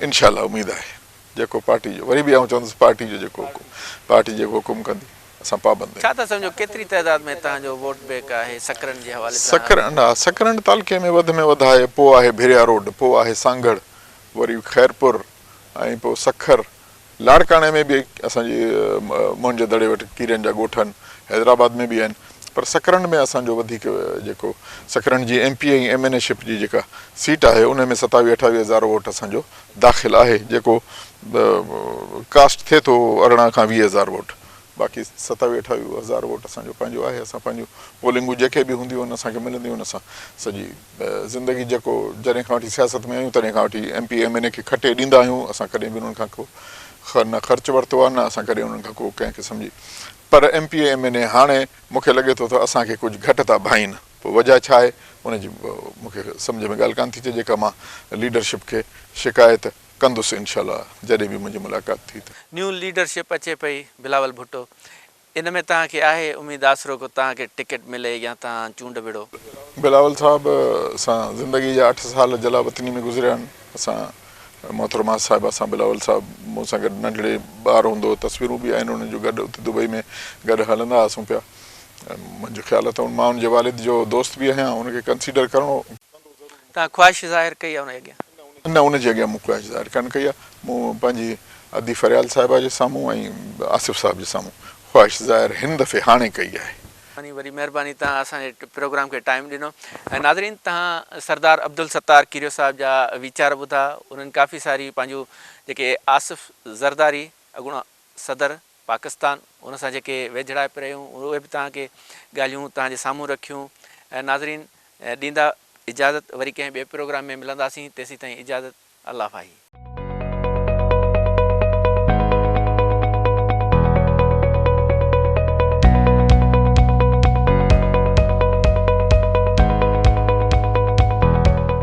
انشاء الله اميد آهي جيڪو پارٽي جو وري به آئون چوندس پارٽي جو جيڪو حڪم پارٽي جيڪو حڪم ڪندي اسان پابند آهيون. ڇا ٿا سمجهو ڪيتري تعداد ۾ تهان جو ووٽ بينڪ آهي سڪرنڊ جي حوالي سان. سڪرنڊ ها سڪرنڊ تعلقي ۾ وڌ ۾ وڌ آهي پوء آهي ڀريا روڊ پوء آهي سانگهڙ وري خيرپور ۽ پوء سکر لاڙڪاڻي ۾ به اسان جي موهن جي دڙي وٽ ڪيرين جا ڳوٺ آهن، حيدرآباد ۾ به آهن پر سڪرنڊ ۾ اسان جو وڌيڪ جيڪو سڪرنڊ جي M P ۽ M N A ship جي جيڪا سيٽ آهي ان ۾ ستاويهه اٺاويهه هزار ووٽ اسان جو داخل آهي جيڪو ڪاسٽ ٿئي ٿو ارڙهن کان ويهه هزار ووٽ باقي ستاويهه اٺاويهه هزار ووٽ اسان جو پنهنجو آهي اسان پنهنجو پولنگون جيڪي به هونديون آهن اسان کي ملنديون آهن اسان سڄي زندگي جيڪو جڏهن کان وٺي سياست ۾ آهيون تڏهن کان وٺي M P M N A کي کٽي ڏيندا آهيون اسان ڪڏهن به انهن کان ڪو نه خرچ ورتو آهي نه اسان ڪڏهن انهن کان ڪو ڪنهن قسم جي پر M P M N A هاڻي مون کي لڳي ٿو ته اسان کي ڪجهه گهٽ ٿا ڀائين پوء وجهه ڇا آهي ان جي مون کي سمجهه ۾ ڳالهه ڪانه ٿي اچي جيڪا مان ليڊرشپ کي شڪايت ڪندس انشاء الله جڏهن به منهنجي ملاقات ٿي ته. نيون ليڊرشپ اچي پئي بلاول ڀٽو ان ۾ توهان کي آهي اميد آسرو ڪو توهان کي ٽڪيٽ ملي يا توهان چونڊ وڙهو. بلاول صاحب سان زندگي جا اٺ سال جلا وطني ۾ گذريا آهن اسان محترمه صاحبه سان بلاول صاحب مون سان گڏ ننڍڙي ٻار هوندو هو تصويرون به آهن انهن جون گڏ اتي دبئي ۾ گڏ هلندا هئاسون پيا منهنجو خيال اٿم مان ان جي والد جو دوست به آهيان ان کي ڪنسيڊر ڪرڻو پوندو ضرور. ڪا خواهش ظاهر ڪئي آهي ان جي اڳيان؟ نه ان جي اڳيان مون خواهش ظاهر ڪانه ڪئي آهي. مون پنهنجي ادي فريال صاحبه جي سامهون ۽ آصف صاحب جي سامهون خواهش ظاهر هن دفعي هاڻي ڪئي آهي. وڏي وڏي مهرباني توهان اسان جي پروگرام کي ٽائيم ڏنو ۽ ناظرين توهان سردار عبدالستار کيريو صاحب جا ويچار ٻڌا انهن ڪافي ساري پنهنجون جيڪي آصف زرداري اڳوڻو صدر پاڪستان ان سان جيڪي ويجهڙائپ رهيون اهي به توهان کي ڳالهيون توهان جي سامهون رکيون ناظرين ڏيندا اجازت وري ڪنهن ٻئي پروگرام ۾ ملنداسين تيسيتائين اجازت الله فاهي.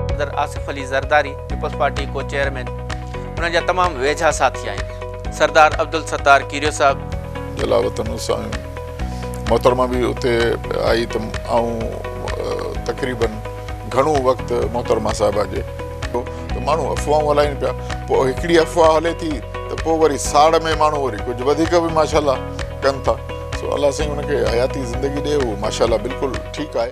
صدر آصف علي زرداري پيپلز پارٽي ڪو چيئرمين انهن جا تمام ويجها ساٿي آهن. سردار عبدالستار کيريو صاحب. جلال وطن اسانيون محترمه به اتي آئي ته آئون تقريباً گهڻو وقت محترمه صاحبه جي. ته ماڻهو افواهون هلائين پيا پوء هڪڙي افواهه هلي ٿي ته پوء وري ساڙ ۾ ماڻهو وري ڪجهه وڌيڪ به ماشاءالله ڪن ٿا سو الله سائين ان کي حياتي زندگي ڏي اهو ماشاءالله بلڪل ٺيڪ آهي.